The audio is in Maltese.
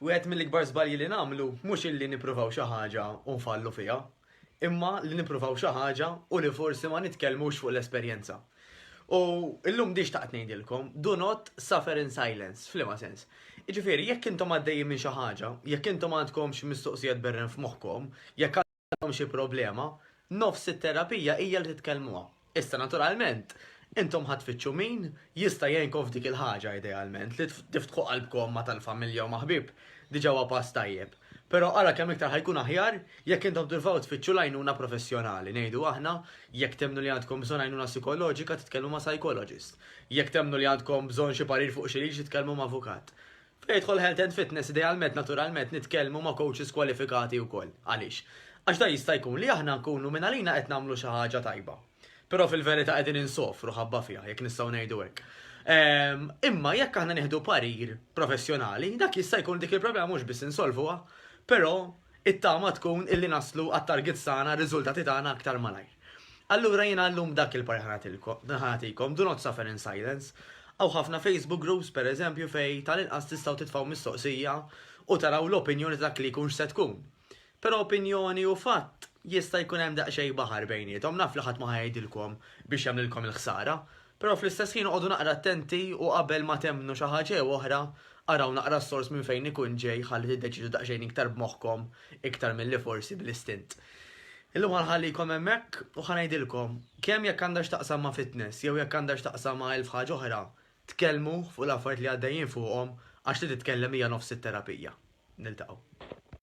Wieħed mill-ikbar żbalji li nagħmlu mhux illi nippruvaw xi ħaġa u nfallu fiha, imma li nippruvaw xi ħaġa u li forsi ma nitkellmux fuq l-esperjenza. U llum din xtaqt ngħidilkom, do not suffer in silence, f'liema sens. Jiġifieri jekk intom għaddejjin minn xi ħaġa, jekk intom għandkomx mistoqsijiet berren f'moħħkom, jekk għandhom xi problema, nofs it-terapija hija li titkellmuha. Issa naturalment, intom ħa tfittxu min jista' jgħinkom f'dik il-ħaġa idealment, li tiftħu qalbkom ma' tal-familja u ma' ħbieb diġà huwa pass tajjeb. Però ara kemm iktar ħa jkun aħjar jekk intom tipprovaw tfittxu l-għajnuna professjonali, ngħidu aħna, jekk temmnu li għandkom bżonn għajnuna psikoloġika titkellmu ma' psychologist, jekk temmnu li għandkom bżonn xi parir fuq xi liġi titkellmu ma' avukat. Fejn jidħol health and fitness idealment naturalment nitkellmu ma' coaches kwalifikati wkoll. Għaliex? Għax dan jista' jkun li aħna nkunu minn għalina qed nagħmlu xi ħaġa tajba. Però fil-verità qegħdin insofru ħabba fiha, jekk nistgħu ngħidu hekk. Ehm, imma jekk aħna nieħdu parir professjonali, dak jista' jkun dik il-problema mhux biss insolvuha, però it-tama tkun illi naslu għat-targets tagħna, r-riżultati tagħna aktar malajr. Allura jiena llum dak il-parir ħa nagħtikom, do not suffer in silence. Hawn ħafna Facebook groups pereżempju fejn tal-inqas tistgħu titfgħu mistoqsija u taraw l-opinjoni ta' dak li jkun x'se tkun. Però opinjoni u fatt jista' jkun hemm daqsxejn baħar bejniethom, naf li ħadd ma ħa jgħidilkom biex jagħmlilkom il-ħsara, Però fl-istess ħin oqogħdu naqra attenti u qabel ma temmnu xi ħaġa jew oħra, araw naqra s-sors minn fejn ikun ġej ħalli tiddeċiedu daqsxejn iktar b'moħħkom iktar milli forsi bl-istint. Illum ħa nħallikom hemmhekk u ħa ngħidilkom, kemm jekk għandha x'taqsam ma' fitness jew jekk għandha x'taqsam ma' elf ħaġa oħra, tkellmu fuq l-affarijiet li għaddejjin fuqhom għax li titkellem hija nofs it-terapija. Niltaqgħu.